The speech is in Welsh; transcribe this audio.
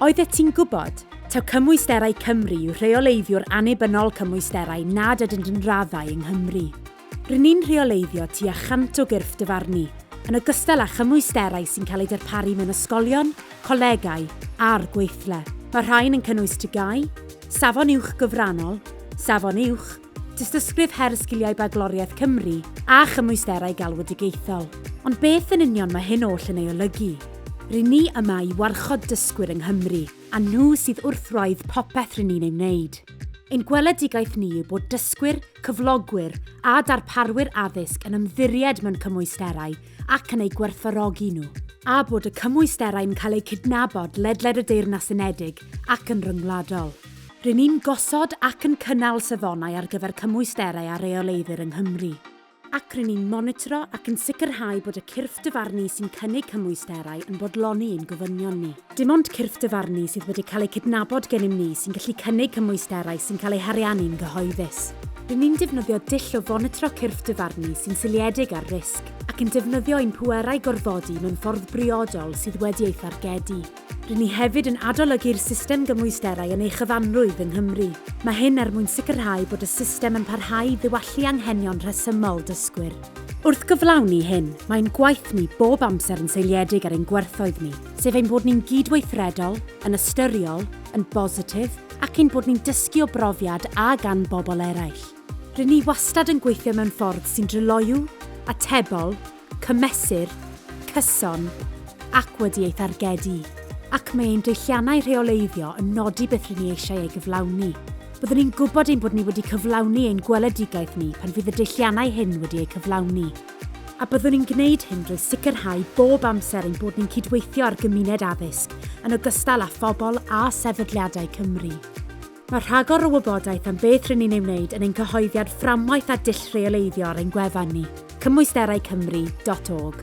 Oeddet ti'n gwybod? Taw Cymwysterau Cymru yw rheoleiddiwr annibynnol cymwysterau nad ydynt yn raddau yng Nghymru. Rŷn ni'n rheoleiddio tua chant o gyrff dyfarnu, yn ogystal â chymwysterau sy'n cael eu darparu mewn ysgolion, colegau a'r gweithle. Mae'r rhain yn cynnwys TGAU, Safon Uwch Gyfrannol, Safon Uwch, Tystysgrif her sgiliau bagloriaeth Cymru a chymwysterau galwedigaethol. Ond beth yn union mae hyn oll yn ei olygu? Ry'n ni yma i warchod dysgwyr yng Nghymru, a nhw sydd wrth wraidd popeth ry'n ni'n ei wneud. Ein gweledigaeth ni yw bod dysgwyr, cyflogwyr a darparwyr addysg yn ymddiried mewn cymwysterau ac yn eu gwerthfawrogi nhw, a bod y cymwysterau'n cael eu cydnabod ledled y Deyrnas Unedig ac yn ryngwladol. Ry'n ni'n gosod ac yn cynnal safonau ar gyfer cymwysterau a reoleiddir yng Nghymru, ac ry'n ni'n monitro ac yn sicrhau bod y cyrff dyfarnu sy'n cynnig cymwysterau yn bodloni ein gofynion ni. Dim ond cyrff dyfarnu sydd wedi cael eu cydnabod gennym ni sy'n gallu cynnig cymwysterau sy'n cael eu hariannu'n gyhoeddus. Ry'n ni'n defnyddio dull o fonitro cyrff dyfarnu sy'n seiliedig ar risg, ac yn defnyddio ein pwerau gorfodi mewn ffordd briodol sydd wedi ei thargedu. Rŷn ni hefyd yn adolygu'r system gymwysterau yn ei chyfanrwydd yng Nghymru. Mae hyn er mwyn sicrhau bod y system yn parhau i ddiwallu anghenion rhesymol dysgwyr. Wrth gyflawni hyn, mae ein gwaith ni bob amser yn seiliedig ar ein gwerthoedd ni, sef ein bod ni'n gydweithredol, yn ystyriol, yn bositif ac ein bod ni'n dysgu o brofiad a gan bobl eraill. Rŷn ni wastad yn gweithio mewn ffordd sy'n dryloyw, atebol, cymesur, cyson, ac wedi ei thargedu, ac mae ein deilliannau rheoleiddio yn nodi beth rŷn ni eisiau ei gyflawni. Byddwn ni'n gwybod ein bod ni wedi cyflawni ein gweledigaeth ni pan fydd y deilliannau hyn wedi eu cyflawni, a byddwn ni'n gwneud hyn drwy sicrhau bob amser ein bod ni'n cydweithio â'r gymuned addysg, yn ogystal â phobl a sefydliadau Cymru. Mae rhagor o wybodaeth am beth rŷn ni'n ei wneud yn ein cyhoeddiad fframwaith a dull rheoleiddio ar ein gwefan ni, cymwysteraicymru.org.